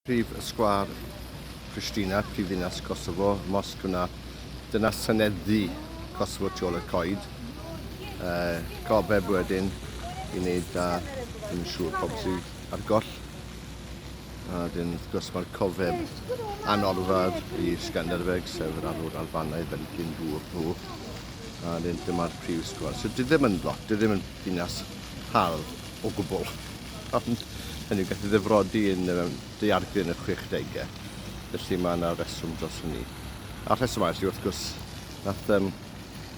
Prif Sgwâr Prishtina, prifddinas Kosovo, mosg yna. Dyna synedd ddu Kosovo tu ôl i'r coed. Uh, gofeb wedyn i wneud da, ddim yn siŵr pobl sydd ar goll. A dyn, wrth gwrs, mae'r cofeb anorfad i Skanderbeg, sef yr arwr Albanaidd fel dyn dŵr nhw. A dyn, dyma'r prif sgwâr. So, dydym yn lot, dydym yn ddinas hardd. o gwbl, ond hynny yw, gath ei ddifrodi yn y mewn daeargryn yn y chwechdegau, felly mae yna reswm dros hynny. A'r rheswm arall yw, wrth gwrs, nath um,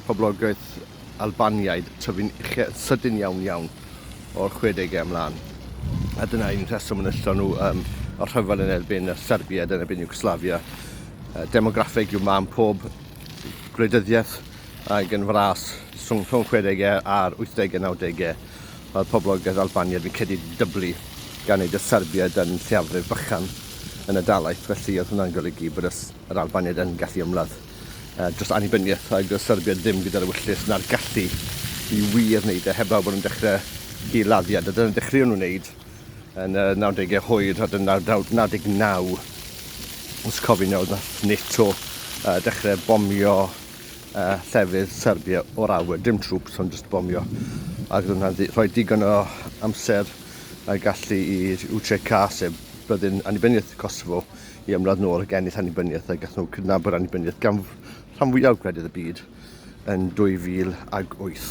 poblogaeth Albaniaid tyfu'n uche yn sydyn iawn iawn o'r chwedegau ymlaen. A dyna un rheswm yn yllon nhw um, o'r rhyfel yn erbyn y Serbiaid, yn erbyn Iwgoslafia. Uh, demograffeg yw mam pob gwleidyddiaeth ac yn fras rhwng, rhwng 60au a'r 80au, 90au. Mae'r poblogaeth Albaniad yn cedi dyblu gan ei dysarbiad yn lleiafrif bychan yn y dalaith, felly oedd hwnna'n golygu bod yr Albaniaid yn gallu ymladd dros annibyniaeth a dysarbiad ddim gyda'r ewyllys na'r gallu i wir wneud e heblaw bod nhw'n dechrau hil-laddiad a dyna dechreuon nhw wneud yn y 90au hwyr a dyna 99 os cofi'n iawn nath NATO dechrau bomio uh, llefydd Serbia o'r awyr, dim trwps ond just bomio. Ac oedd hwnna'n rhoi digon o amser a gallu i UCK, sef byddin annibyniaeth Kosovo, i ymladd nôl ac ennill annibyniaeth a gath nhw cydnabod annibyniaeth gan rhan fwyaf gwledydd y byd yn 2008.